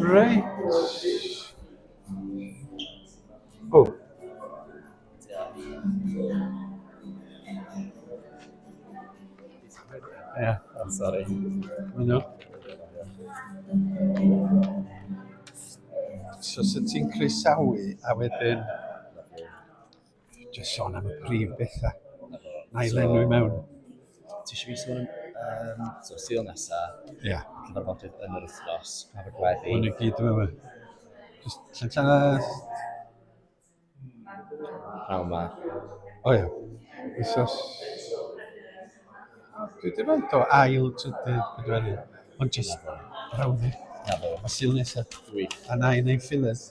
Reit. O. Yeah, I'm sorry. No. So sut ti'n croesawu a wedyn Jyst sôn am y prif bethau. Na i lenwi mewn. Ti eisiau fi sôn am um, so, syl nesa, yeah. cyfarfodydd yn yr wythnos, pa fod gweddi. Hwn i gyd yma. Just llen llath. Praw ma. O ia. Wythnos. Dwi wedi rhaid o ail trydydd pedwerydd. Ond jyst brawddeg. A syl nesaf. A na i wneud fillers.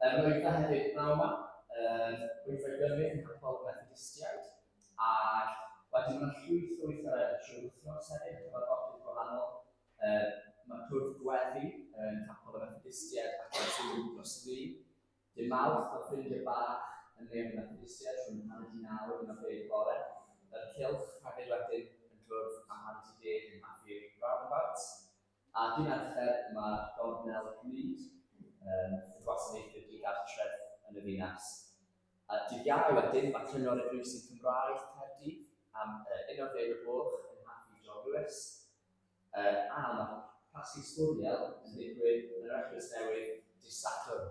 Yr oedd yna hefyd bnawn 'ma, yr oedd rhoi gyrryn yn capel y Methodistiaid, ac wedyn mae 'na llwyth o weithgareddau trwy'r wythnos hefyd, a cyfarfodydd gwahanol. Yy, mae cwrdd gweddi yn capel y Methodistiaid ac yn trwy'r wythnos ddi. Dy Mawrth mae ffrindiau bach yn neuadd y Methodistiaid rhwng hanner di naw yn ar ddeg bore. Yr cylch hefyd wedyn yn cwrdd am hanner di deg yn Abbey Roundabout. A dwi'n arfer yma ar gornel Cymreig, yn gwasanaethu'r digartref yn y ddinas. A dydd Iau wedyn, mae Cyngor Eglwysi Cymraeg Caerdydd am y Unol Deg o Gloch yn Nhaffi John Lewis. A mae Pasgu Sbwriel yn digwydd yn yr Eglwys Newydd dydd Sadwrn.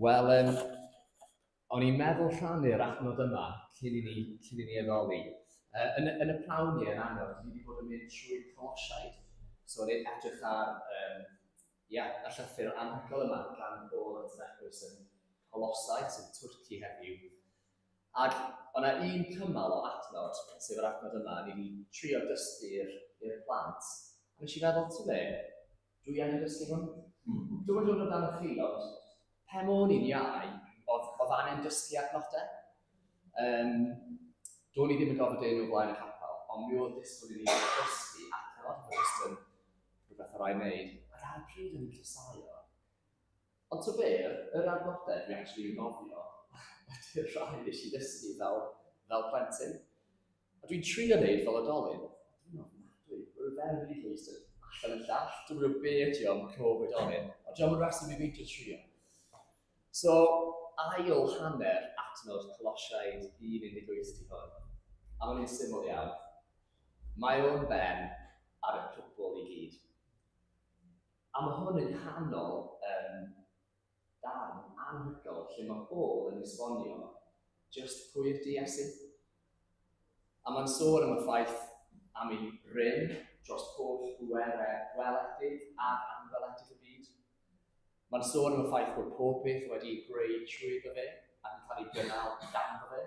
Wel, um, o'n i'n meddwl rhannu'r adnod yma cyn i ni, cyn i ni addoli. Uh, yn, yn y prawn ni yn anodd, ni wedi bod yn mynd trwy colosiaid. So, o'n i'n edrych ar um, yeah, y llythyr anhygol yma gan Paul yn Threppers yn Colosau, sy'n Twrci heddiw. Ac o' 'na un cymal o adnod, sef yr adnod yma, o'n i 'di trio dysgu i'r i'r plant, a nes i feddwl, ti'n be, dwi angen dysgu hwn. Hmm. Dwi'n yn dod o dan y chi, ond pe môn i'n iau, oedd, oedd angen dysgu adnodau. Um, Do'n i ddim yn gofod dyn o blaen y capel, ond mi oedd disgwyl i ni dysgu adnod, oedd jyst yn rhywbeth o rai wneud. Ac ar y pryd o'n i'n cysau o, Ond tybed, yr arddodedd dwi actually yn nofio ydy'r rhai nes i ddysgu fel, fel plentyn. A dwi'n trio wneud fel adolyn. Dwi'n ofnadwy, mae'r ferf wedi llwys yn allan y llall, dwi'n gwybod be ydi o'n cof oedolyn, ond dwi'n yn rhasyn i beidio trio. So, ail hanner adnod Colosiaid 1.18 di hwn. A mae'n un syml iawn. Mae o'n ben ar y cwbl i gyd. A mae hwn yn canol yym darn anhygoel lle mae Paul yn esbonio just pwy yw'r du a sut. A mae'n sôn am y ffaith am ei rym dros holl bwerau gweledig ac anweledig y byd. Mae'n sôn am y ffaith bod pob peth wedi ei greu trwy fe ac yn cael ei gynnal dan fe.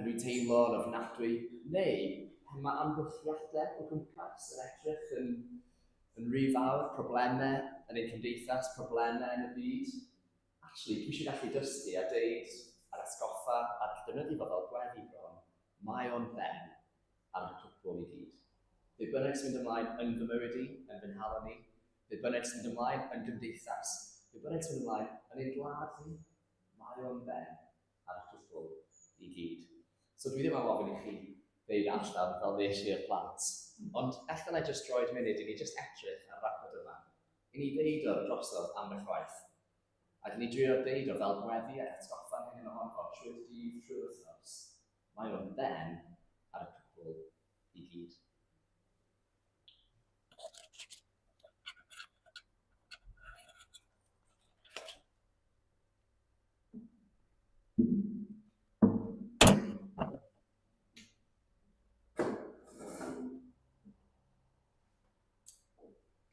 Yn rhy teimlo'n ofnadwy, neu pan mae amgylchiadau o gwmpas yn edrych yn, yn rhy fawr, problemau yn ein cymdeithas, problemau yn y byd. Actually, dwi eisiau gallu dysgu a deud a'r atgoffa a'r defnyddio fo fel gweddi bron, mae o'n ben ar y cwpl i gyd. Be bynnag sy'n mynd ymlaen yn fy mywyd i, yn fy nhalon ni, be bynnag sy'n mynd ymlaen yn gymdeithas, be bynnag sy'n mynd ymlaen yn ein gwlad ni, mae o'n ben ar y cwpl i gyd. So dwi ddim am ofyn i chi ddeud allan fel nes i'r plant, ond allan na i just droed munud i ni just edrych ar ragod yma, i ni ddeud o'r drosodd am eich waith. A dyn ni drio deud o fel gweddi a atgoffa'n hyn yn ohono trwy'r dydd trwy'r wythnos. Mae o'n then ar y cwpl i gyd.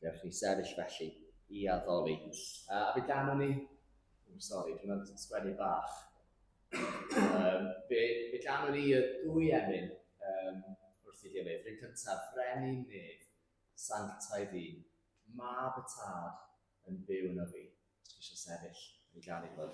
Gewch chi sefyll felly i addoli. Uh, a fi ganwn ni... Oh, sorry, dwi'n meddwl sgwennu bach. um, fe, fe ganwn ni y dwy emyn um, wrth i gilydd. Rhyn cyntaf, frenin nef, sanctau fi, mab y tad yn byw yn o fi. Os eisiau sefyll, yn gael ei fod.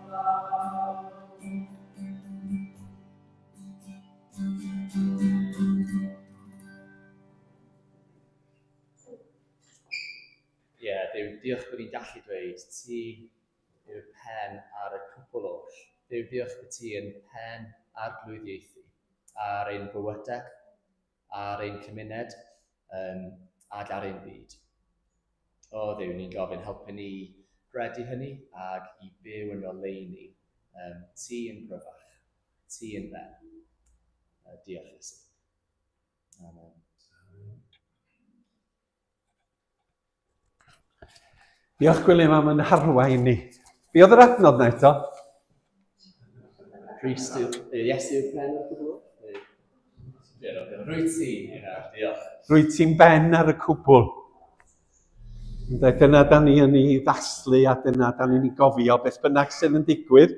diolch bod ni'n gallu dweud ti yw'r pen ar y cwpl oll. Dduw, diolch bod ti yn pen arglwyddiaethu ar ein bywydau, Ar ein cymuned, um, ac ar ein byd. O ddiw, ni'n gofyn helpu ni gredu hynny ac i byw yn oleini, um, ti yn gryfach, ti yn ben. Uh, diolch Iesu. Amen. Diolch Gwilym am yn harwain ni. Be oedd yr adnod na eto? Rhys yw... Yes yw'r pen o'r cwbl. Rwyt ti, diolch. Rwyt ti'n ben ar y cwbl. Dyna da ni yn ei ddathlu a dyna da ni'n ei gofio beth bynnag sydd yn digwydd.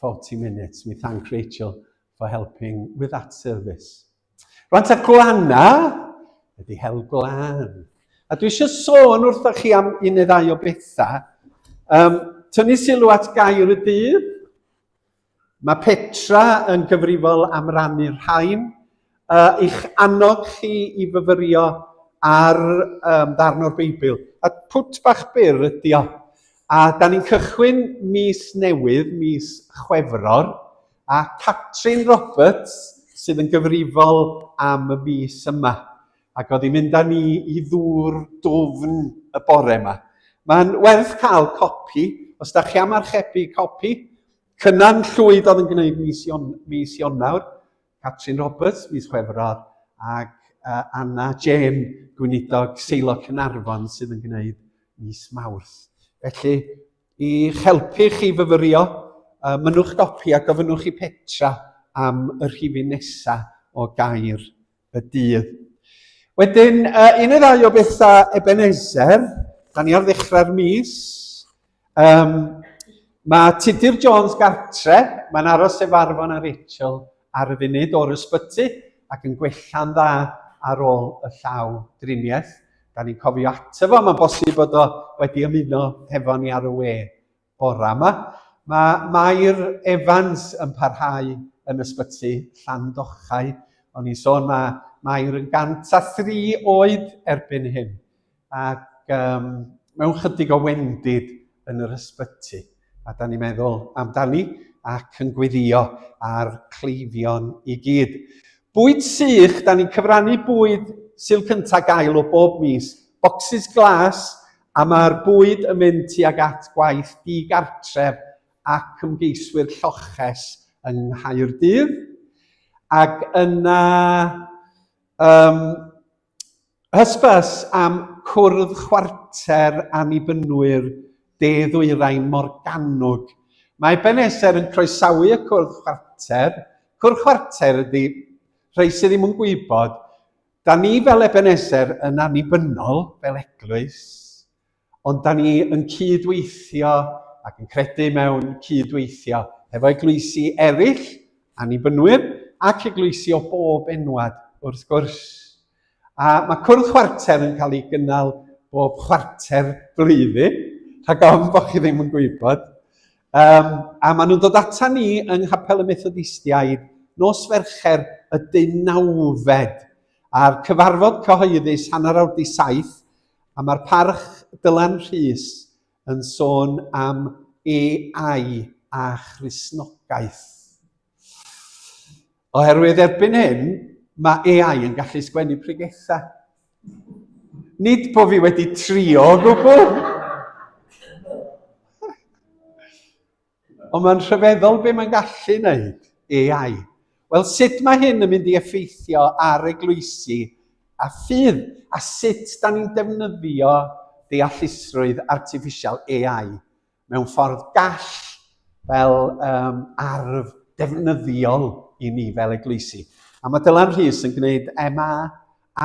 40 minutes. We thank Rachel for helping with that service. Rwan ta glanna ydy hel glan. A dwi eisiau sôn wrtho chi am un neu ddau o bethau. Um, tynnu sylw at gair y dydd. Mae Petra yn gyfrifol am rannu'r rhain Uh, i'ch annog chi i fyfyrio ar um, ddarn o'r Beibl. A pwt bach byr ydi o. A da ni'n cychwyn mis newydd, mis Chwefror, a Catrin Roberts sydd yn gyfrifol am y mis yma. Ac oedd hi'n mynd â ni i ddŵr dwfn y bore yma. Mae'n werth cael copi, os da chi am archebu copi, Cynan Llwyd oedd yn gwneud mis, Ion, mis Ionawr, Catrin Roberts mis Chwefror ac uh, Anna Jane Gweinidog Seilo Cynarfon sydd yn gwneud mis Mawrth. Felly, i helpu chi fyfyrio, uh, mynnwch gopi a gofynnwch i Petra am y rhifyn nesaf o gair y dydd. Wedyn, uh, un neu ddau o bethau Ebenezer, da ni ar ddechrau'r mis, Um, mae Tudur Jones gartre, mae'n aros sef arfon a Rachel ar y funud o'r ysbyty ac yn gwella'n dda ar ôl y llaw driniaeth. Da ni'n cofio ato fo, mae'n bosib bod o wedi ymuno hefo ni ar y we bora yma. Mae Mair Evans yn parhau yn ysbyty Llandochau. O'n i'n sôn mae Mair yn 103 oed erbyn hyn. Ac um, mewn chydig o wendid yn yr ysbyty, a da ni'n meddwl amdani ac yn gweddio ar cleifion i gyd. Bwyd sych, da ni'n cyfrannu bwyd syl cyntaf gael o bob mis, bocsys glas, a mae'r bwyd yn mynd tuag at gwaith digartref ac ymgeiswyr lloches yng Nghaerdydd. Ac yna, um, Hysbys am Cwrdd Chwarter Annibynwyr De-ddwyrain Morgannwg. Mae Ben Eser yn croesawu y Cwrdd Chwarter. Cwrdd Chwarter ydy, rhai sydd ddim yn gwybod, da ni fel Eben Eser yn annibynnol fel eglwys, Ond da ni yn cyd-weithio ac yn credu mewn cyd-weithio hefo eglwysi eraill, annibynwyr ac eglwysi o bob enwad wrth gwrs. A mae cwrdd chwarter yn cael ei gynnal bob chwarter blwyddyn, rhag ofn bod chi ddim yn gwybod. Um, a maen nhw'n dod ata ni yng Nghapel y Methodistiaid nos Fercher y dynawfed a'r cyfarfod cyhoeddus hanner awr di saith A mae'r parch Dylan Rhys yn sôn am AI a Christnogaeth. Oherwydd erbyn hyn, mae AI yn gallu sgwennu pregethau. Nid bod fi wedi trio o gwbl. Ond mae'n rhyfeddol be mae'n gallu wneud, AI. Wel, sut mae hyn yn mynd i effeithio ar eglwysi a ffydd, a sut da ni'n defnyddio deallusrwydd artiffisial AI mewn ffordd gall fel um, arf defnyddiol i ni fel eglwysi. A mae Dylan Rhys yn gwneud MA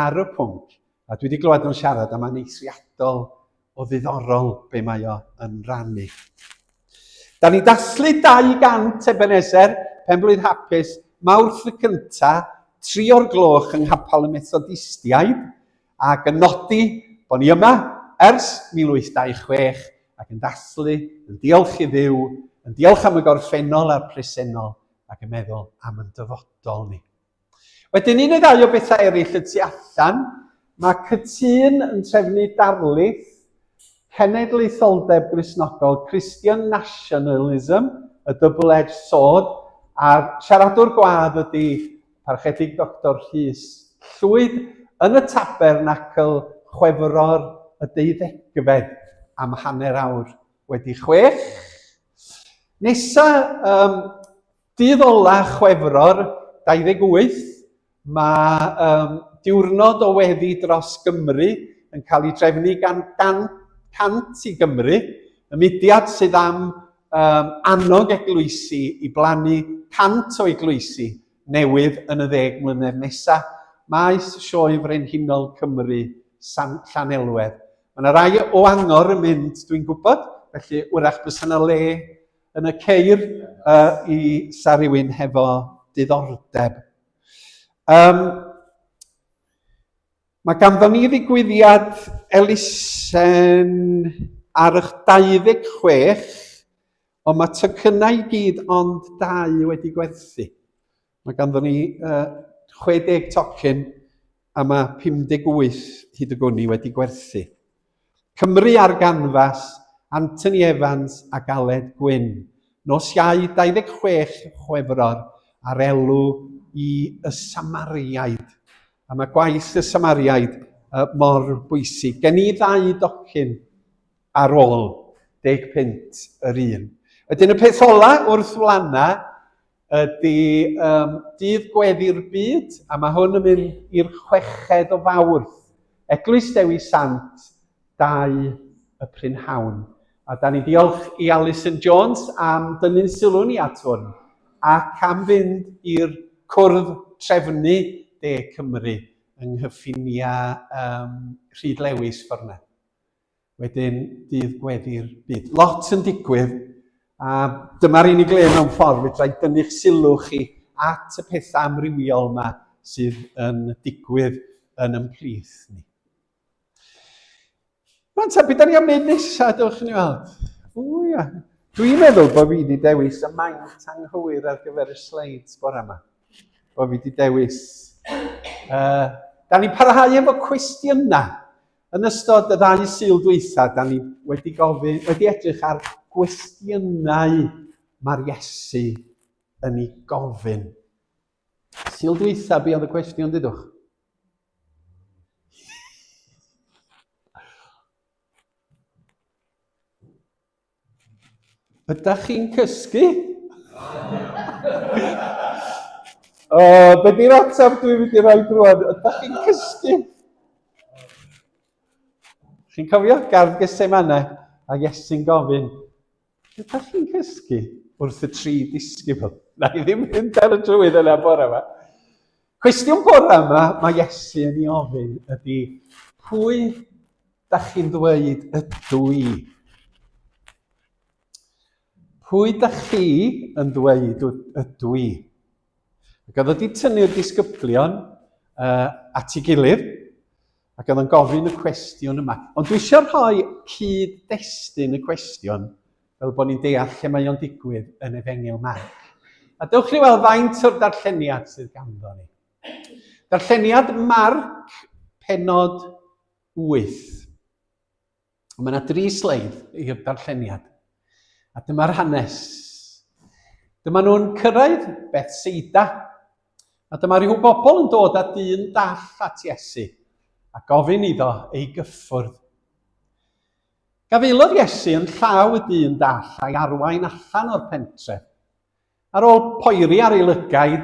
ar y pwnc, a dwi wedi glywed nhw'n siarad am aneithriadol o ddiddorol be mae o yn rannu. Da ni dathlu 200 Ebenezer, Penblwydd Hapus, Mawrth y cynta, tri o'r gloch yng Nghapel y Methodistiaid, ac yn nodi bod ni yma ers 1826 ac yn dathlu, yn diolch i ddiw, yn diolch am y gorffennol a'r presennol ac yn meddwl am yn dyfodol ni. Wedyn un neu ddau o bethau eraill y tu allan, mae cytûn yn trefnu darlith Cenedlaetholdeb Gristnogol Christian Nationalism, y Double Edge Sword, a'r siaradwr gwadd ydy Parchedig Doctor Rhys Llwyd yn y Tabernacl Chwefror y deuddegfed am hanner awr wedi chwech. Nesa, um, Dydd ola Chwefror 28, mae um, diwrnod o weddi dros Gymru yn cael ei drefnu gan 100 i Gymru, y mudiad sydd am um, annog eglwysi i blannu 100 o eglwysi newydd yn y ddeg mlynedd nesaf. Maes Sioe Frenhinol Cymru, San Llanelwedd. Mae yna rai o angor yn mynd, dwi'n gwybod, felly wrach bys yna le Yn y ceir uh, i sa rhywun hefo diddordeb. Um, mae ganddo ni ddigwyddiad elusen ar eich 26, ond mae tycynnau i gyd ond dau wedi gwerthu. Mae ganddo ni uh, 60 tocyn a mae 58 hyd y gwni wedi gwerthu. Cymru ar ganfas, Anthony Evans a Galed Gwyn. Nos iau 26 Chwefror ar elw i y Samariaid. A mae gwaith y Samariaid uh, mor bwysig. Gen i ddau docyn ar ôl deg pint yr un. Wedyn y peth ola wrth wlana ydy um, dydd gweddi'r byd, a mae hwn yn mynd i'r chweched o fawrth. Eglwys Dewi Sant, dau y prynhawn. A da ni diolch i Alison Jones am dynnu'n sylw ni at hwn ac am fynd i'r cwrdd trefnu De Cymru yng nghyffiniau um, Rhyd Lewis ffordd wedyn dydd gweddi'r byd. Lot yn digwydd, a dyma'r unig le mewn ffordd fedrai dynnu'ch sylw chi at y pethau amrywiol yma sydd yn digwydd yn ymplith ni. Mae'n ta, beth da ni am wneud nesaf, dewch ni weld. O ia, dwi'n meddwl bod fi wedi dewis y maint anghywir ar gyfer y sleids bore yma. Bod fi wedi dewis... Uh, da ni'n parhau efo cwestiynau. Yn ystod y ddau Sul dwytha, da ni wedi gofyn, wedi edrych ar gwestiynau mae'r Iesu yn ei gofyn. Sul dwytha, be oedd y cwestiwn, dydwch? Ydych chi'n cysgu? o, be di'r ateb dwi'n mynd i roi drwan? Ydych chi'n cysgu? Chi'n cofio gardd Gesemane a Iesu'n gofyn, ydych chi'n cysgu wrth y tri disgybl? Na i ddim mynd ar y trywydd yna bore yma. Cwestiwn bore yma mae Iesu yn ei ofyn ydy, pwy Da chi'n ddweud ydw i. Pwy da chi yn ddweud ydw i? Ac oedd wedi tynnu'r disgyblion uh, at ei gilydd ac oedd yn gofyn y cwestiwn yma. Ond dwi eisiau rhoi cyd-destun y cwestiwn fel bod ni'n deall lle mae o'n digwydd yn efengil Marc. A dewch chi weld faint o'r darlleniad sydd ganddo ni. Darlleniad Marc, penod 8. Mae yna dri sleid i'r darlleniad. A dyma'r hanes. Dyma nhw'n cyrraedd Bethsaida. A dyma rhyw bobl yn dod â dyn dall at Iesu a gofyn iddo ei gyffwrdd. Gafaelodd Iesu yn llaw y dyn dall a'i arwain allan o'r pentre. Ar ôl poeri ar ei lygaid,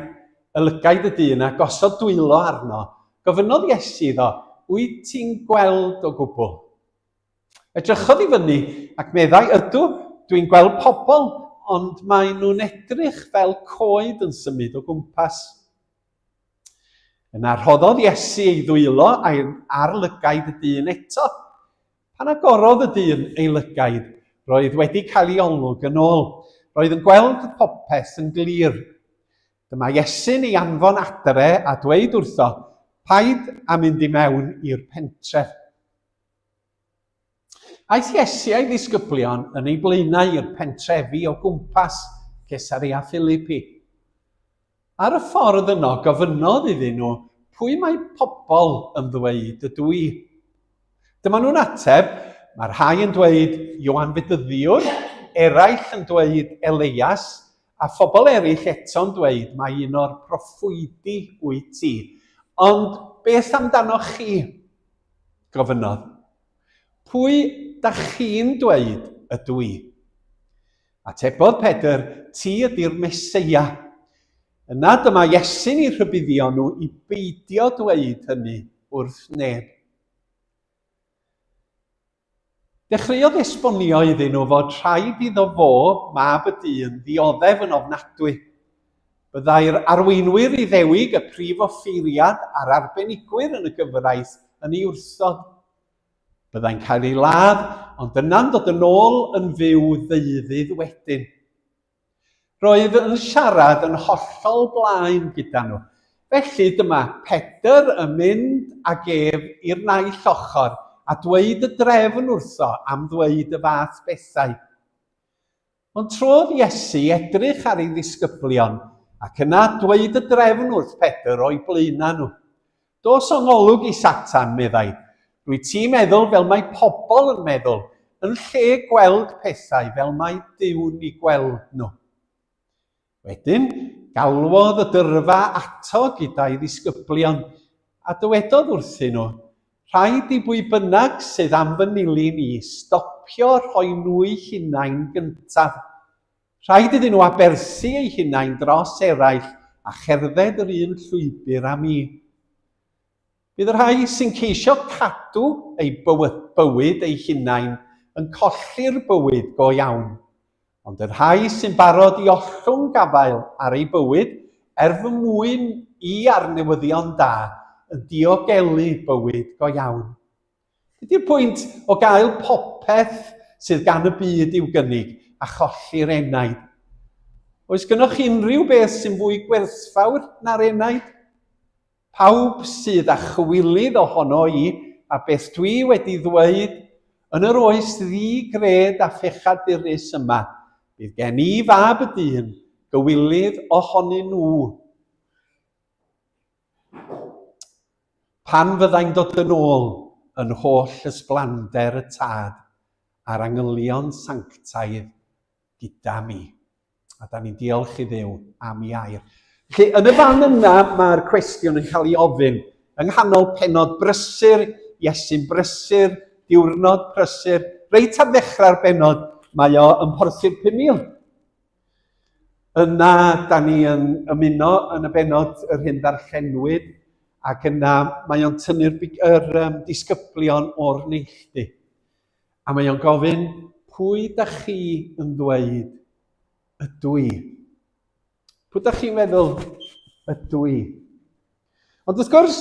y lygaid y dyn, a gosod dwylo arno, gofynnodd Iesu iddo, Wyt ti'n gweld o gwbl? Edrychodd i fyny ac meddai, Ydw, dwi'n gweld pobl, ond maen nhw'n edrych fel coed yn symud o gwmpas. Yna rhoddodd Iesu ei ddwylo ar lygaid y dyn eto. Pan agorodd y dyn ei lygaid, roedd wedi cael ei olwg yn ôl. Roedd yn gweld popeth yn glir. Dyma Iesu'n ei anfon adre a dweud wrtho, Paid â mynd i mewn i'r pentref. Aeth Iesu a'i ddisgyblion yn ei blaenau i'r pentrefi o gwmpas Cesaria Philipi. Ar y ffordd yno gofynnodd iddyn nhw pwy mae pobl yn ddweud ydw i. Dyma nhw'n ateb, mae rhai yn dweud Ioan Fedyddiwr, eraill yn dweud Eleias, a phobl eraill eto'n dweud mai un o'r proffwydi wyt ti. Ond beth amdanoch chi? gofynnodd. Pwy da chi'n dweud ydw i? Atebodd Pedr, Ti ydy'r Meseia. Yna dyma Iesu'n eu rhybuddio nhw i beidio dweud hynny wrth neb. Dechreuodd esbonio iddyn nhw fod rhaid iddo fo, mab y dyn, ddioddef yn ofnadwy. Byddai'r arweinwyr Iddewig, y prif offeiriad a'r arbenigwyr yn y gyfraith yn ei wrthod. Byddai'n cael ei ladd, ond yna'n dod yn ôl yn fyw ddeuddydd wedyn. Roedd yn siarad yn hollol blaen gyda nhw. Felly dyma Pedr yn mynd ag ef i'r naill ochr a dweud y drefn wrtho am ddweud y fath bethau. Ond trodd Iesu i edrych ar ei ddisgyblion ac yna dweud y drefn wrth Pedr o'i blaenau nhw. Dos o ngolwg i Satan, meddai, rwyt ti'n meddwl fel mae pobl yn meddwl, yn lle gweld pethau fel mae Duw'n eu gweld nhw. Wedyn, galwodd y dyrfa ato gyda'i ddisgyblion, a dywedodd wrthyn nhw, Rhaid i bwy bynnag sydd am fy nilyn i stopio rhoi nhw'u hunain gyntaf. Rhaid iddyn nhw aberthu eu hunain dros eraill a cherdded yr un llwybr â mi. Bydd y rhai sy'n ceisio cadw eu bywyd eu hunain yn colli'r bywyd go iawn, ond y rhai sy'n barod i ollwng gafael ar eu bywyd er fy mwyn i ar newyddion da yn diogelu bywyd go iawn. Dydy'r pwynt o gael popeth sydd gan y byd i'w gynnig a cholli'r enaid. Oes gynoch unrhyw beth sy'n fwy gwerthfawr na'r enaid? Pawb sydd â chywilydd ohono i a beth dwi wedi ddweud, yn yr oes ddi-gred a phechadurus yma, bydd gen i fab y dyn, gywilydd ohonyn nhw. Pan fyddai'n dod yn ôl yn holl ysblander y Tad a'r angylion sanctaidd gyda mi. A da ni'n diolch i ddew am i air. Felly, yn y fan yna, mae'r cwestiwn yn cael ei ofyn yng nghanol penod brysur, Iesu'n brysur, diwrnod prysur, reit ar ddechrau'r benod, mae o yn porthu'r 5,000. Yna, da ni yn ymuno yn y benod yr hyn ddarllenwyd, ac yna mae o'n tynnu'r yr, um, disgyblion o'r neilltu. A mae o'n gofyn, pwy da chi yn ddweud ydw i? Pwy da chi'n meddwl ydw i? Ond wrth gwrs,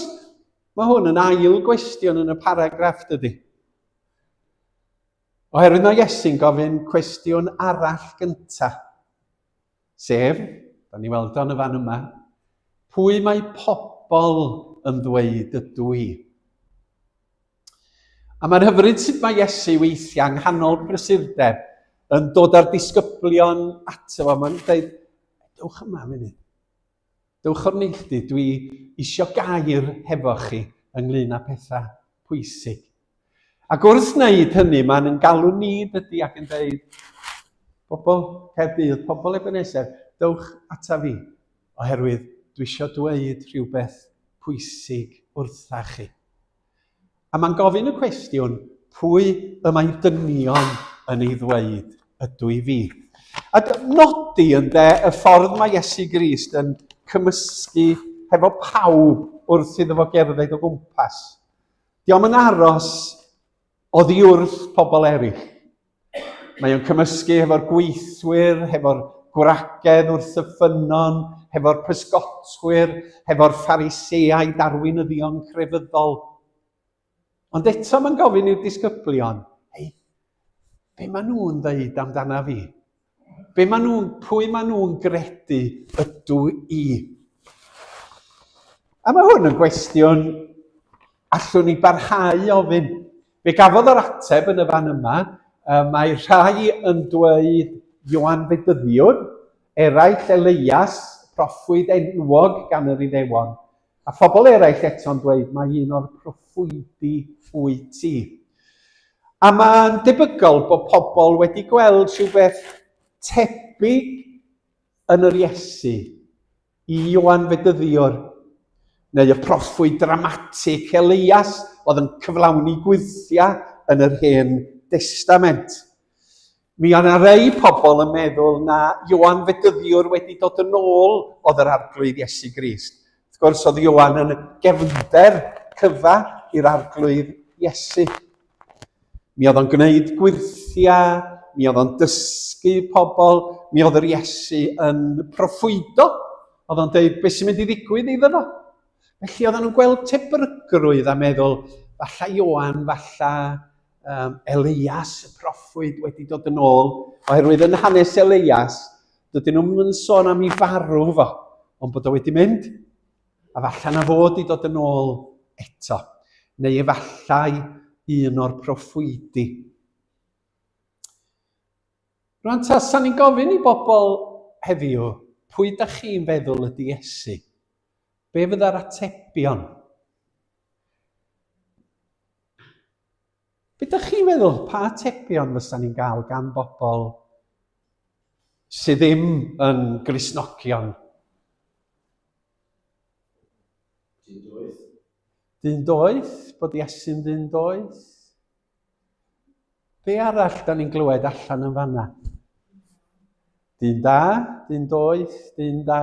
mae hwn yn ail gwestiwn yn y paragraff, dydy. Oherwydd mae Iesu'n gofyn cwestiwn arall gynta, sef, da ni weld o'n y fan yma, pwy mae pobl yn ddweud ydw i? A mae'n hyfryd sut mae Iesu weithiau yng nghanol prysurdeb yn dod â'r disgyblion ato fo. Mae'n dweud, dewch yma munud. Dewch o'r neilltu, dwi isio gair hefo chi ynglŷn â pethau pwysig. Ac wrth wneud hynny, mae'n yn galw ni dydy ac yn dweud, pobl Caerdydd, pobl Ebenezer, dewch ata fi, oherwydd dwi isio dweud rhywbeth pwysig wrtha chi. A mae'n gofyn y cwestiwn, pwy y mae dynion yn ei ddweud ydw i fi? A nodi yn de y ffordd mae Iesu Grist yn cymysgu hefo pawb wrth iddo fo gerdded o gwmpas. Diolch yn aros oddi wrth pobl eraill. Mae o'n cymysgu hefo'r gweithwyr, hefo'r gwragedd wrth y ffynnon, hefo'r pysgotwyr, hefo'r phariseau darweinyddion crefyddol. Ond eto mae'n gofyn i'r disgyblion, ei, be maen nhw'n ddeud amdana fi? Be maen nhw'n, pwy maen nhw'n gredu ydw i? A mae hwn yn gwestiwn allwn ni barhau i ofyn. Fe gafodd yr ateb yn y fan yma, mae rhai yn dweud Ioan Fedyddiwr, eraill Eleias, proffwyd enwog gan yr Iddewon. A phobl eraill eto'n dweud mai un o'r proffwydi wyt ti. A mae'n debygol bod pobl wedi gweld rhywbeth tebyg yn yr Iesu i Ioan Fedyddiwr, neu y proffwyd dramatig Elias oedd yn cyflawni gwythiau yn yr Hen Destament. Mi oedd 'na rei pobl yn meddwl na Ioan Fedyddiwr wedi dod yn ôl oedd yr Arglwydd Iesu Grist. Wrth gwrs, oedd Ioan yn gefnder cyfa i'r Arglwydd Iesu. Mi oedd o'n gwneud gwyrthiau, mi oedd o'n dysgu pobl, mi oedd yr Iesu yn proffwydo. Oedd o'n dweud beth sy'n mynd i ddigwydd iddo fo. Felly oedd nhw'n gweld tebygrwydd a meddwl, falla Ioan, falla um, Elias, y proffwyd, wedi dod yn ôl, oherwydd yn hanes Elias, dydyn nhw'n mynd sôn am i farw fo, ond bod o wedi mynd, a falle na fod i dod yn ôl eto, neu efallai un o'r proffwydi. Rwy'n ta, sa'n ni'n gofyn i bobl heddiw, pwy da chi'n feddwl ydy Iesu? Be fydda'r atebion? Be ydych chi'n meddwl, pa atebion fysa ni'n gael gan bobl sydd ddim yn grisnogion? Dyn doeth. Dyn doeth, bod Iesu'n dyn doeth. Be arall da ni'n glywed allan yn fanna? Dyn da, dyn doeth, dyn da.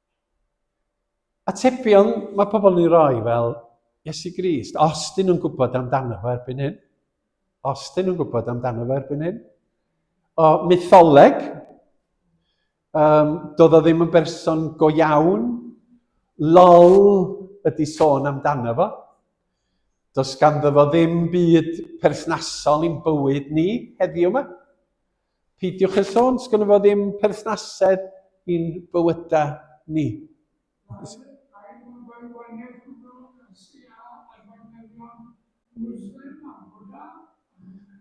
Atebion mae pobl yn ei roi fel Iesu Grist, os dyn nhw'n gwybod amdano fo erbyn hyn. Os dyn nhw'n gwybod amdano fo erbyn hyn. O, mytholeg, um, doedd o ddim yn berson go iawn, lol ydy sôn amdano fo. Does ganddo fo ddim byd perthnasol i'n bywyd ni heddiw yma. Peidiwch â sôn, sgynno fo ddim perthnasedd i'n bywyda ni.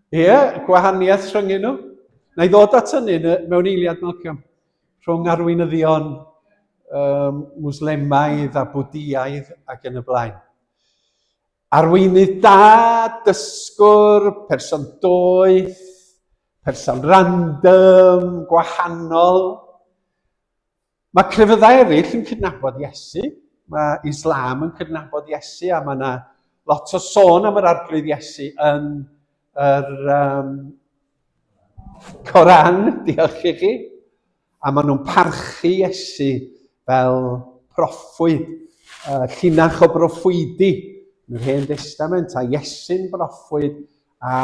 Ie, yeah, gwahaniaeth rhwng nhw. Na i ddod at hynny mewn eiliad, Malcolm, rhwng arweinyddion um, Muslemaidd a Bwdiaidd ac yn y blaen. Arweinydd da, dysgwr, person doeth, person random, gwahanol. Mae crefyddau eraill yn cydnabod Iesu, mae Islam yn cydnabod Iesu a mae yna lot o sôn am yr arglwydd Iesu yn yr um, Coran, diolch i chi. A maen nhw'n parchu Iesu fel proffwyd, uh, llinach o broffwydi yn yr Hen Destament, a Iesu'n broffwyd, a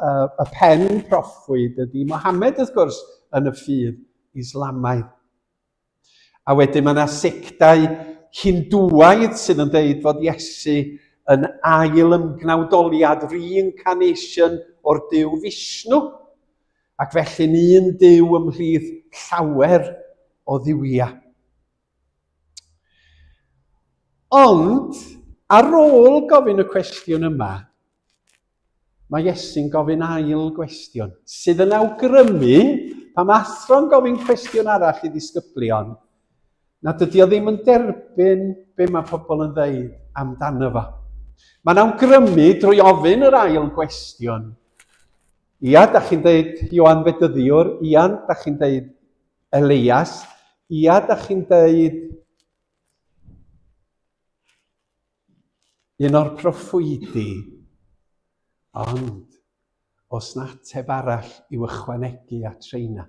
uh, y pen proffwyd ydy Mohammed, wrth gwrs, yn y ffydd Islamaidd. A wedyn mae yna sectau Hindwaidd sydd yn dweud fod Iesu yn ail ymgnawdoliad, reincarnation o'r Dyw Fishnu. Ac felly'n un Duw ymhlith llawer o dduwiau. Ond, ar ôl gofyn y cwestiwn yma, mae Iesu'n gofyn ail gwestiwn, sydd yn awgrymu, pa mae athro'n gofyn cwestiwn arall i ddisgyblion, na dydy o ddim yn derbyn be mae pobl yn ddeud amdano fo. Mae'n awgrymu drwy ofyn yr ail gwestiwn, Ia, dach chi'n deud Ioan Fedyddiwr, ia, dach chi'n deud Elias, ia, dach chi'n deud un o'r proffwydi, ond os na ateb arall i'w ychwanegu at reina.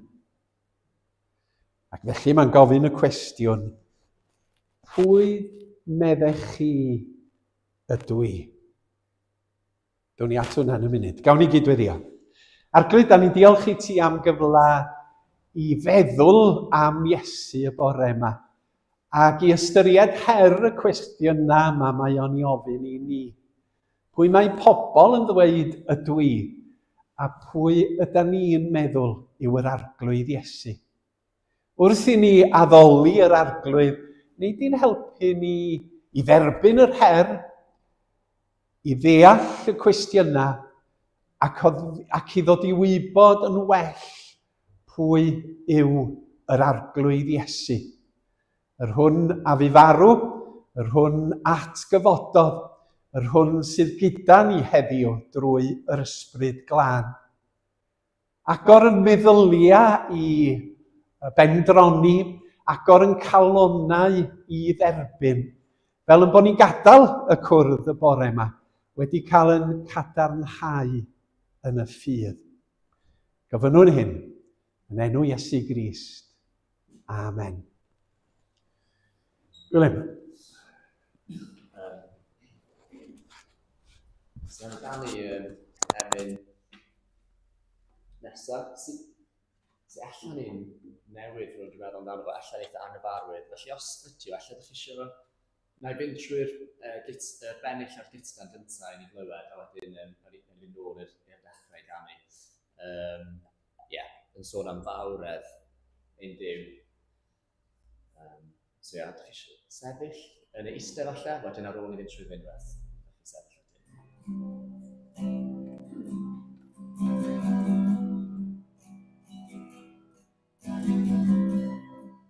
Ac felly mae'n gofyn y cwestiwn, pwy meddech chi ydw i? Down ni at hwnna yn y munud. Gawn ni gydweddio. Arglwydd, da ni'n diolch i ti am gyfle i feddwl am Iesu y bore yma ac i ystyried her y cwestiynau yma mae o'n i ofyn i ni. Pwy mae pobl yn ddweud ydw i a pwy yda ni'n meddwl yw yr arglwydd Iesu? Wrth i ni addoli yr Arglwydd, nid i'n helpu ni i dderbyn yr her, i ddeall y cwestiynau ac, ac i ddod i wybod yn well pwy yw yr Arglwydd Iesu. Yr hwn a fu farw, yr hwn at gyfododd, yr hwn sydd gyda ni heddiw drwy yr Ysbryd Glân. Agor yn meddyliau i bendroni, agor yn calonnau i dderbyn. Fel yn bod ni'n gadael y cwrdd y bore yma, wedi cael yn cadarnhau yn y ffydd. Gofynnwn hyn yn enw Iesu Grist. Amen. Gwilym. So amdani um, emyn nesaf, sy'n sy allan ni'n newid rhywun dwi'n meddwl amdano fo, allan eitha angyfarwydd. Felly os ydyw, allan ydych chi eisiau fo, na i fynd trwy'r uh, git, uh, bennill o'r gitgan gyntaf i ni glywed, a wedyn um, rhaid i fynd ôl i'r dechrau ganu. Um, Ie, yeah, yn sôn am fawredd ein Duw. Um, so ia, ydych chi sefyll yn y eistedd falle, wedyn ar ôl i fynd trwy fynd rhywbeth, ydych chi'n sefyll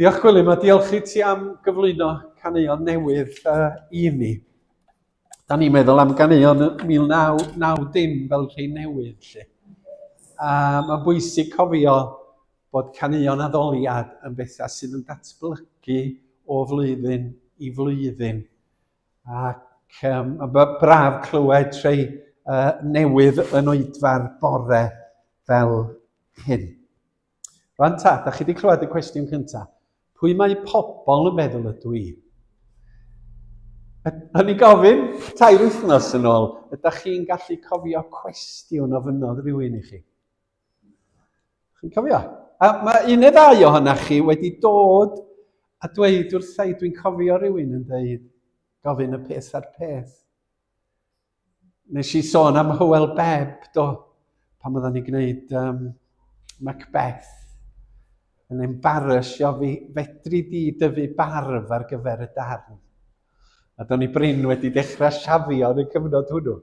Diolch Gwilym a diolch i ti am gyflwyno caneuon newydd uh, i ni. da ni'n meddwl am ganeuon 1990 fel rhai newydd lle. A mae'n bwysig cofio bod caneuon addoliad yn bethau sydd yn datblygu o flwyddyn i flwyddyn. Ac um, mae braf clywed treu uh, newydd yn oedfa'r bore fel hyn. Rwan ta, da chi wedi clywed y cwestiwn cyntaf. Pwy mae pobl yn meddwl ydw i? O'n i'n gofyn, tair wythnos yn ôl, ydych chi'n gallu cofio cwestiwn o fynodd rhywun i chi? Chi'n cofio? A mae un neu ddau ohonoch chi wedi dod a dweud wrthai, dwi'n cofio rhywun yn dweud, gofyn y peth a'r peth. nes i sôn am Hywel Beb, do, pan oedden ni'n gwneud um, Macbeth, yn embarrasio fi, fedri di dyfu barf ar gyfer y darn. A do'n i brin wedi dechrau siafio yn y cyfnod hwnnw.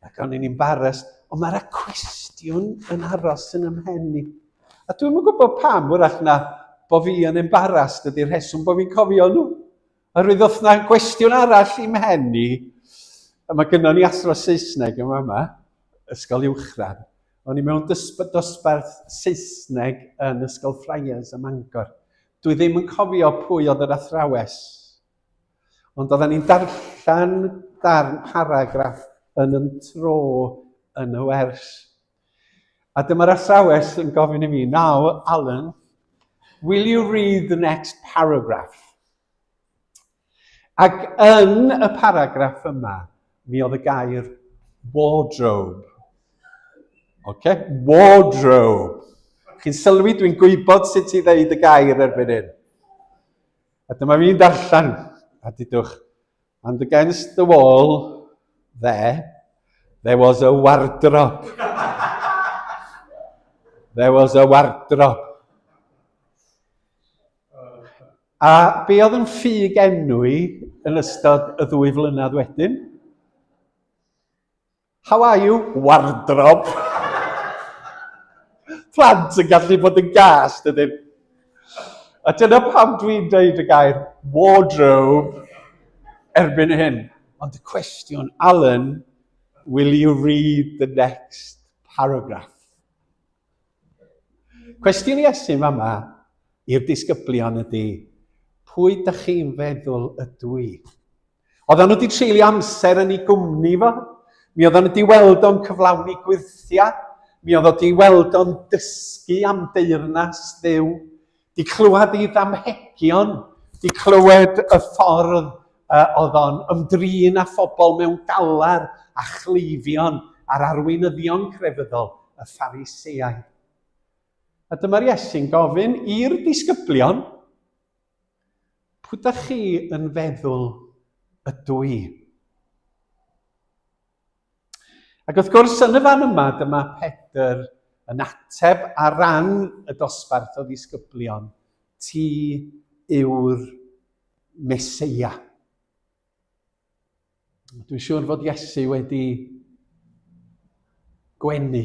Ac o'n i'n embarras, ond mae'r cwestiwn yn aros yn ymhen i. A dwi'n yn gwybod pam, wrach na, bod fi yn embarras, dydy'r rheswm bod fi'n cofio nhw. Yr wythnos na gwestiwn arall i'm hen ni. Mae gynno ni athro Saesneg yma yma, ysgol uwchradd. O'n i mewn dosbarth Saesneg yn ysgol Friars ym Mangor. Dwi ddim yn cofio pwy oedd yr athrawes. Ond oedden ni'n darllen darn paragraff yn yn tro yn y wers. A dyma'r athrawes yn gofyn i mi, Now, Alan, will you read the next paragraph? Ac yn y paragraff yma, mi oedd y gair wardrobe. OK? Wardrobe. Chi'n sylwi, dwi'n gwybod sut i ddeud y gair erbyn hyn. A dyma fi'n darllen, a dydwch, And against the wall there, there was a wardrobe. there was a wardrobe. A be oedd yn ffug enw i yn ystod y ddwy flynedd wedyn? How are you? Wardrob. Plant yn gallu bod yn gas, dydyn. A dyna pam dwi'n dweud y gair wardrobe erbyn hyn. Ond y cwestiwn, Alan, will you read the next paragraph? Cwestiwn Iesu yma i'r disgyblion ydy, pwy da chi'n feddwl ydw i? Oedden nhw wedi treulio amser yn ei gwmni fo. Mi oedden nhw wedi weld o'n cyflawni gwirthiau. Mi oedd o wedi weld o'n dysgu am deyrnas ddew. Di clywed ei ddamhegion. Di clywed y ffordd uh, oedd o'n ymdrin â phobl mewn galar a chleifion a'r arweinyddion crefyddol, y ffariseau. A dyma'r Iesu'n gofyn i'r disgyblion, Pwy dach chi yn feddwl ydw i? Ac wrth gwrs, yn y fan yma, dyma Pedr yn ateb ar ran y dosbarth o ddisgyblion, ti yw'r Meseia. Dwi'n siŵr fod Iesu wedi gwenu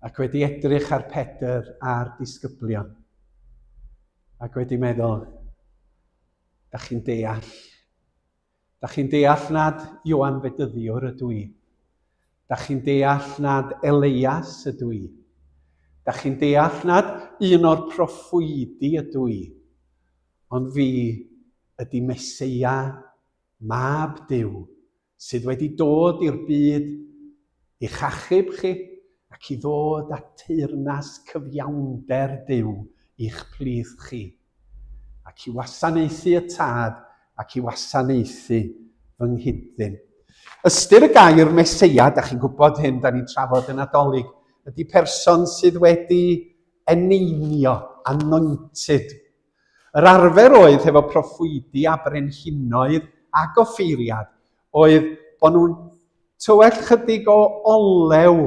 ac wedi edrych ar Pedr a'r disgyblion ac wedi meddwl, da chi'n deall. Da chi'n deall nad Iwan Fedyddiwr ydw i. Da chi'n deall nad Eleias ydw i. Da chi'n deall nad un o'r proffwydi ydw i. Ond fi ydy Meseia, Mab Duw, sydd wedi dod i'r byd i'ch achub chi ac i ddod â teyrnas cyfiawnder Duw i'ch plith chi, ac i wasanaethu y Tad ac i wasanaethu fy nghyd-ddyn. Ystyr y gair Meseia, da chi'n gwybod hyn, da ni'n trafod yn adolyg, ydy person sydd wedi eneinio, anointed, Yr arfer oedd hefo proffwydi a brenhinoedd ag offeiriad oedd bod nhw'n tywell chydig o olew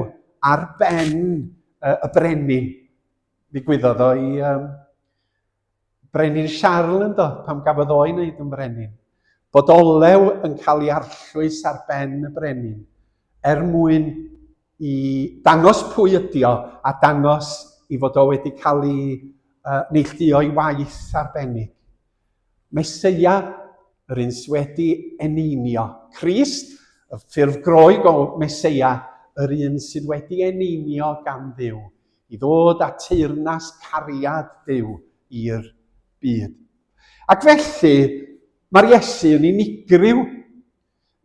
ar ben y, y brenin. Ddigwyddodd o i um, brenin Charles ynddo, pam gafodd o'i wneud yn frenin. Bod olew yn cael ei arllwys ar ben y brenin er mwyn i ddangos pwy ydi o a dangos i fod o wedi cael ei uh, neillduo i waith arbennig. Meseia, yr un sydd wedi eneinio. Crist, y ffurf groeg o Meseia, yr un sydd wedi eneinio gan ddiw, i ddod a teyrnas cariad ddiw i'r byd. Ac felly, mae'r Iesu yn unigryw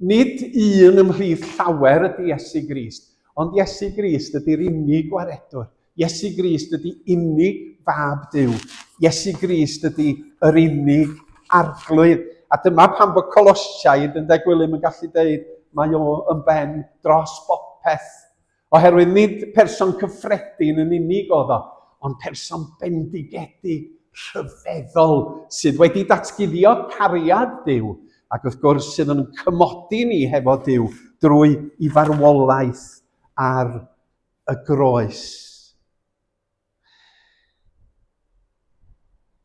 Nid un ymhlith llawer ydy Iesu Grist, ond Iesu Grist ydy'r unig gwaredwr. Iesu Grist ydy unig fab Duw. Iesu Grist ydy yr unig arglwydd. A dyma pan bod Colosiaid yn De Gwilym yn gallu dweud mae o yn ben dros bopeth. Oherwydd nid person cyffredin yn unig oedd o, ond person bendigedig, rhyfeddol, sydd wedi datguddio cariad Duw, ac wrth gwrs sydd yn cymodi ni hefo Duw drwy i farwolaeth ar y groes.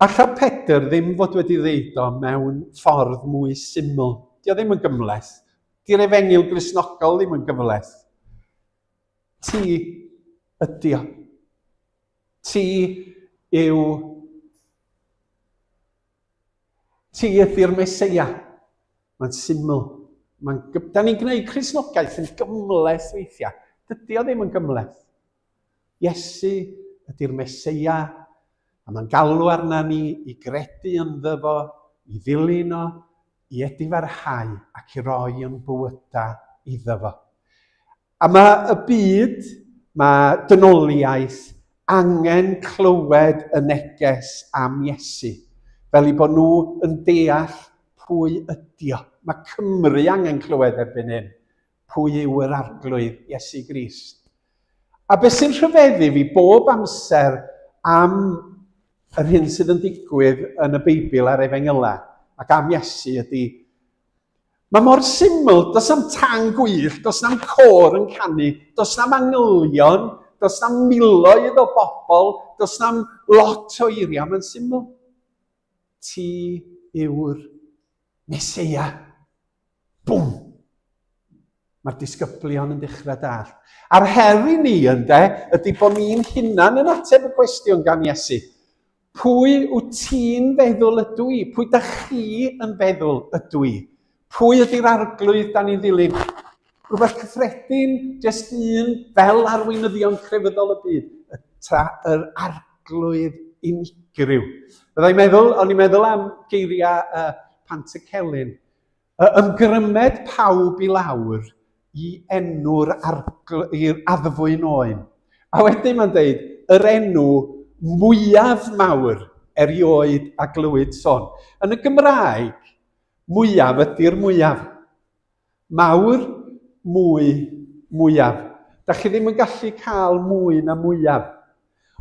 Alla Pedr ddim fod wedi ddeud o mewn ffordd mwy syml. Di o ddim yn gymhleth. Di'r efengyl Gristnogol ddim yn gymhleth. Ti ydi o. Ti yw... Ti ydi'r Meseia. Mae'n syml. Mae'n... Da ni'n gwneud Cristnogaeth yn gymhleth weithiau. Dydy o ddim yn gymhleth. Iesu ydy'r Meseia, a mae'n galw arna ni i gredu ynddo fo, i ddilyn o, i edifarhau ac i roi yn bywydau iddo fo. A mae y byd, mae dynoliaeth angen clywed y neges am Iesu, fel i bod nhw yn deall pwy ydio. Mae Cymru angen clywed erbyn hyn pwy yw yr Arglwydd, Iesu Grist. A beth sy'n rhyfeddu fi bob amser am yr hyn sydd yn digwydd yn y Beibl a'r Efengylau ac am Iesu ydy, mae mor syml, does na'm tan gwyll, does na'm cor yn canu, does na'm angylion, does na'm miloedd o bobl, does na'm lot o eiriau, mae'n syml. Ti yw'r Mesoea. Bwm! Mae'r disgyblion yn dechrau dall. A'r her i ni, ynde, ydy bod ni'n hunan yn ateb y cwestiwn gan Iesu. Pwy wyt ti'n feddwl ydw i? Pwy da chi yn feddwl ydw i? Pwy ydy'r arglwydd da ni'n ddilyn? Rhywbeth cyffredin, jyst un fel arweinyddion crefyddol y byd, y tra, yr arglwydd unigryw. Byddai'n meddwl, o'n i'n meddwl am geiriau uh, Pant y Celyn, y ymgrymed pawb i lawr i enw'r i'r addfwyn oen. A wedyn mae'n dweud, yr enw mwyaf mawr erioed a glywyd son. Yn y Gymraeg, mwyaf ydy'r mwyaf. Mawr, mwy, mwyaf. Da chi ddim yn gallu cael mwy na mwyaf.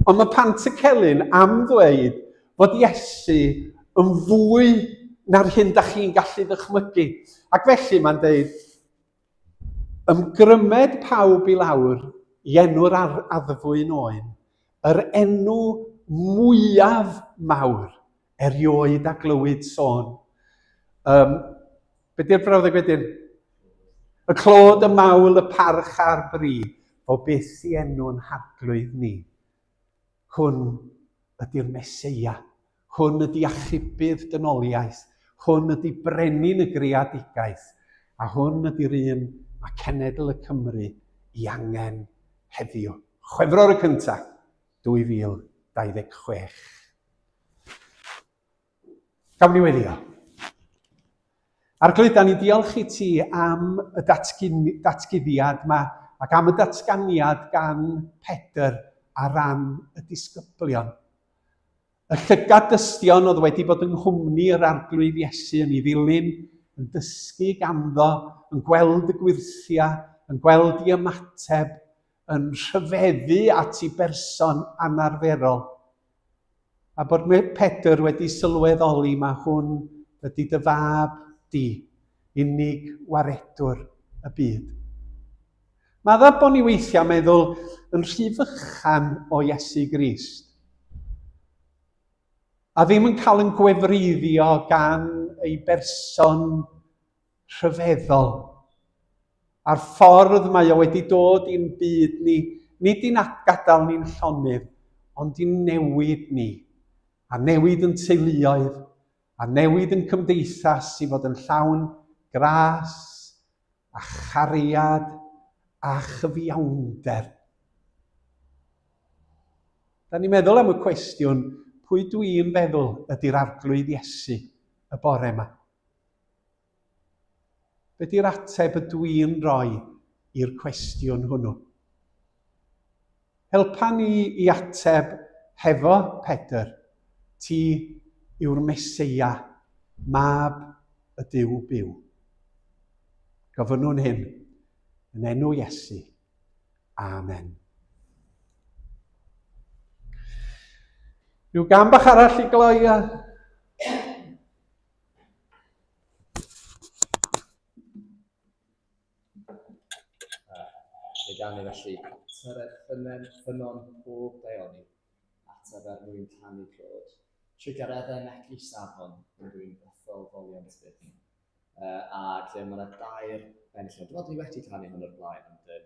Ond mae Pantycelyn am ddweud fod Iesu yn fwy na'r hyn da chi'n gallu ddychmygu. Ac felly mae'n dweud, ymgrymed pawb i lawr i enw'r addfwyn oen, yr enw mwyaf mawr erioed a glywyd sôn. Um, be di'r brawddeg wedyn? Y clod, y mawl, y parch a'r bri, o byth i enw'n harglwydd ni. Hwn ydy'r Meseia, hwn ydy achubydd dynoliaeth, hwn ydy brenin y greadigaeth, a hwn ydy'r un mae cenedl y Cymru i angen heddiw. Chwefror y cyntaf, 2026. Gawn ni weddio. Arglwydd, da ni diolch i ti am y datguddiad yma ac am y datganiad gan Pedr a ran y disgyblion. Y llygad dystion oedd wedi bod yng nghwmni yr arglwydd Iesu yn ei ddilyn, yn dysgu ganddo, yn gweld y gwirthia, yn gweld i ymateb, yn rhyfeddu at ei berson anarferol. A bod Pedr wedi sylweddoli mae hwn ydy dy fab di, unig waredwr y byd. Madda bod ni weithiau meddwl yn rhy fychan o Iesu Grist a ddim yn cael yn gwefreiddio gan ei berson rhyfeddol. A'r ffordd mae o wedi dod i'n byd ni, nid i'n gadael ni'n llonydd, ond i'n newid ni, a newid yn teuluoedd, a newid yn cymdeithas i fod yn llawn gras a chariad a chyfiawnder. Da ni'n meddwl am y cwestiwn, pwy dwi'n feddwl ydy'r arglwydd Iesu y bore yma? Be di'r ateb y dwi'n rhoi i'r cwestiwn hwnnw? Helpa ni i ateb hefo Pedr, Ti yw'r Meseia, Mab y Duw byw. Gofynnwn hyn yn enw Iesu. Amen. Rhyw gam bach arall i gloi a Fe gan ni felly tyred ffynen ffynon pob daioni, at y fer mwyn canu clod, trigar efe meglu safon yn dwi'n bythol folion sbyth. Uh, ac mae yna dair enillion. Dwi'n meddwl dwi wedi canu hwn o'r blaen, ond um,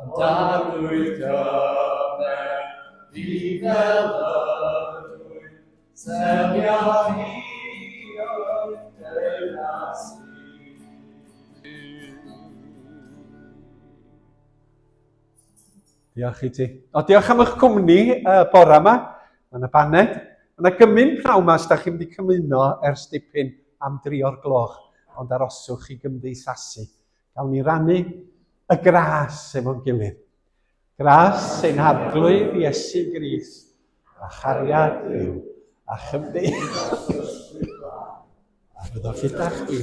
Ond arwydd gyfer fi fel ydwy, selio hi o'r dynas Diolch i ti. O, diolch am eich cwmni uh, bore yma. Mae yna baned. Mae yna gymryd pnawn yma os da chi'n mynd i cymuno ers dipyn am dri o'r gloch, ond aroswch i gymdeithasu. Gawn ni rannu y gras efo'n gilydd. Gras ein harglwydd Iesu Gris, a chariad yw, a chymdeithas. A byddwch gyda chdi.